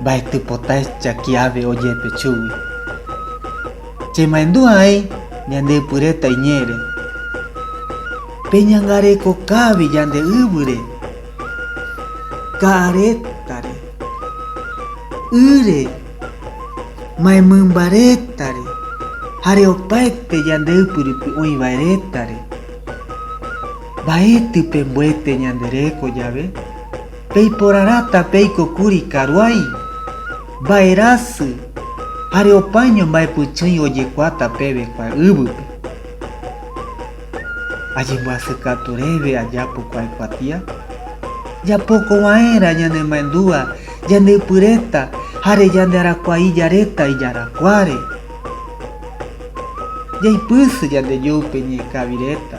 Mbaetý pota echakiave ojepe chugui. Chemaendu aĩ ñandeypyréta iñe'ẽre. Peñangareko kávi ñande yvýre, ka'arétare, ýre, maymymbarétare hare opaete ñande ypyrupi oĩvaerétare. Mbaetý pembuete ñande reko jave. Peiporarãta peiko kuri karuái, vaerasy, are opaño mba'epychỹi ojekuaáta peve kue yvýpe. Ajembyasykatu reve ajapo kue kuatia. Japoko va'erã ñane maendua yande ypy reta jare yande arakuai ja reta ijarakuáre. Jaipysy yande joype ñeikavi reta.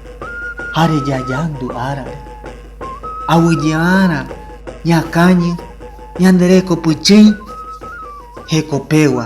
ha rejayandu árare. Aguyje'arã ñakañy ñande reko pychỹi hekopegua.